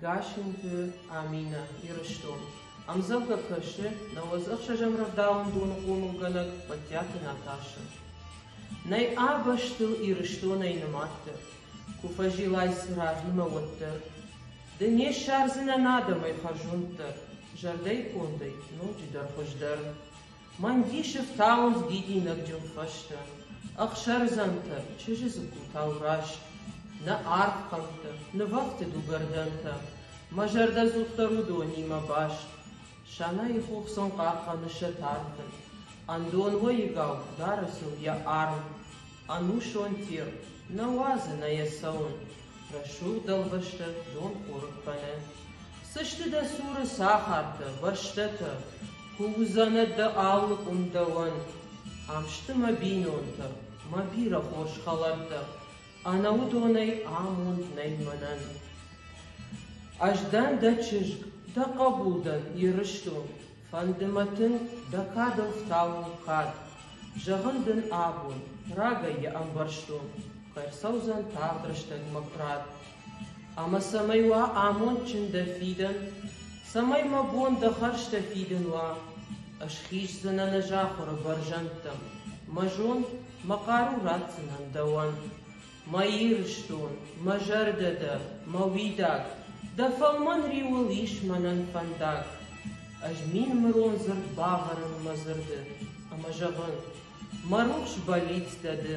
Гассинты Аминӕ, Ирыстон. Ӕмдзӕвгӕ кӕсы нӕуӕдз ӕхсӕзӕм рӕвдауӕн доны хъомылгӕнӕг Мадтиаты Наташӕ. Нӕй ӕ бӕстыл Ирыстонӕй нымаддӕр, ку фӕззилай цуранимӕ, уӕддӕр. Ды не ссардзынӕн адӕмӕй хӕрзонддӕр, зӕрдӕйкондӕй ноджыдӕр хуыздӕр. Мӕн дисы фтауынц дидинӕгджын хӕстӕ, Ӕхсӕрдзӕнтӕ, чызджы дзыккутау раст, Нӕ арф хъӕмттӕ, нывӕфты дугӕрдӕнтӕ, Мӕ зӕрдӕдзухдӕр уыдонимӕ баст. Сӕнайы хох сын хъахъхъӕны сӕ тӕрты, Ӕндон уӕйыгау дары сыл йӕ арм. Ӕнусон тир, нӕ уадзы нӕ йӕ цӕуын, Рӕсугъд дӕлбӕстӕ дон къорыппӕны. Цы сты дӕ цуры цӕхӕртӕ, бӕстӕтӕ, Куы уыдзӕнӕ дӕ алы къуым дӕуӕн. Ам сты мӕ бинонтӕ, мӕ бирӕ хорз хӕлӕрттӕ, Ӕнӕуыдонӕй амонд нӕй мӕнӕн. Ӕз дӕн дӕ чызг, дӕ хъӕбул дӕн, Ирыстон, Фӕнды мӕ тын дӕ кадыл фтауон кад. Зӕгъын дын абон, рагӕй йӕ ӕмбӕрстон, кӕй рцӕудзӕн тагъд рӕстӕгмӕ куырат. Ӕмӕ цӕмӕй уа амондджын дӕ фидӕн, цӕмӕй мӕ бон дӕ хӕрзтӕ фидын уа, ӕз хиздзынӕн ӕз ахуыры бӕрзӕндтӕм, мӕ зонд, мӕ хъару ратдзынӕн дӕуӕн. Мӕ Ирыстон, мӕ зӕрдӕ дӕ, мӕ уидаг, Дӕ фӕлмӕн риуыл ис мӕнӕн фӕндаг. Ӕз мин мырон дзырд бавӕрын мӕ дзырды, ӕмӕ зӕгъын, Мӕ рухс бӕллиц дӕ ды.